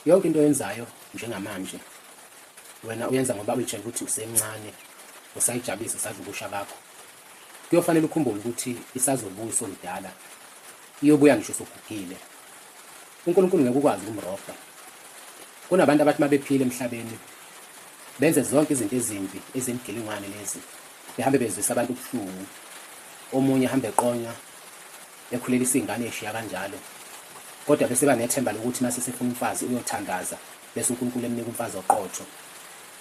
Yonke into oyenzayo njengamanje wena uyenza ngoba uyitshela ukuthi usemncane usayijabulisa usadla ubusha bakho kuyofanele ukhumbule ukuthi isazobuya usomdala iyobuya ngisho usugugile uNkulunkulu ngeke ukwazi ukumrobha kunabantu abathi mabephile emhlabeni benze zonke izinto ezimbi ezimgilingwane lezi behambe bezwisa abantu ubuhlungu omunye hambe eqonywa ekhulelisa ingane eshiya kanjalo kodwa bese banethemba lokuthi mase sefuna umfazi uyothandaza bese uNkulunkulu emnika umfazi oqotho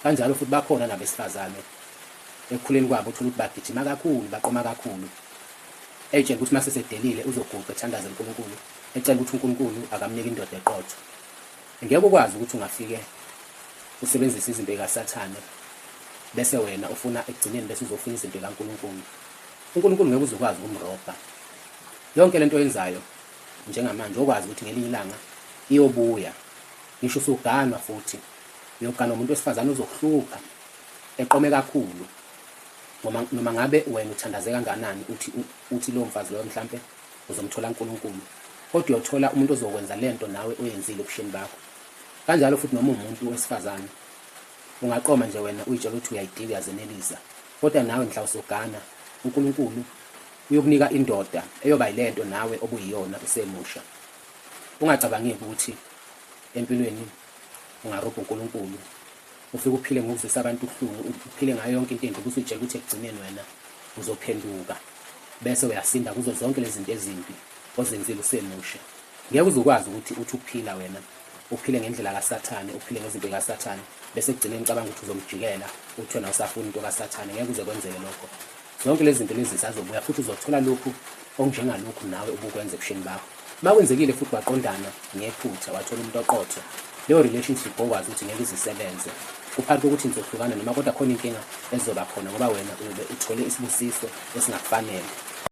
kanjalo futhi bakhona nabesifazane ekukhuleni kwabo uthola ukuthi bagijima kakhulu baqoma kakhulu etshela ukuthi mase sedelile uzoguqa ethandaza uNkulunkulu ecela ukuthi uNkulunkulu akamnike indoda eqotho ngeke ukwazi ukuthi ungafike usebenzise izinto zikaSathane bese wena ufuna ekugcineni bese uzofuna izinto zikaNkulunkulu UNkulunkulu ngeke uze ukwazi ukumrobha. Yonke lento oyenzayo njengamanje okwazi ukuthi ngelinye ilanga iyobuya. Ngisho usuganwa futhi uyoganwa umuntu wesifazane ozokuhlupha eqome kakhulu. Noma noma ngabe wena uthandaze kanganani uthi uthi lo mfazi loyo mhlambe uzomthola uNkulunkulu. Kodwa uyothola umuntu ozokwenza lento nawe oyenzile ubusheni bakho. Kanjalo futhi noma umuntu wesifazane ungaqoma nje wena uyitshela ukuthi uyayidika uyazenelisa. Kodwa nawe mhla usugana uNkulunkulu uyokunika indoda eyoba yilento nawe obuyiyona usemusha. Ungacabangeki ukuthi empilweni ungarobha uNkulunkulu ufike uphile ngokuzwisa abantu ubuhlungu uphile ngayo yonke into embi ukuthi utshela ukuthi ekugcineni wena uzophenduka bese uyasinda kuzo zonke lezi zinto ezimbi ozenzile usemusha. Ngeke uze ukwazi ukuthi uthi uphila wena, uphile ngendlela kaSathane, uphile ngezinto zikaSathane, bese ekugcineni ucabanga ukuthi uzomjikela, uthi wena usafuna into kaSathane. Ngeke uze kwenzeke lokho. Zonke lezi zinto lezi zisazobuya futhi uzothola lokhu okunjengalokhu nawe ubukwenza ebusheni bakho. Uma kwenzekile futhi waqondana ngephutha wathola umuntu oqotho, leyo relationship okwazi ukuthi ngeke izisebenze kuphakathi kokuthi nizohlukana noma kodwa khona inkinga ezoba khona ngoba wena ube uthole isibusiso esingakufanele.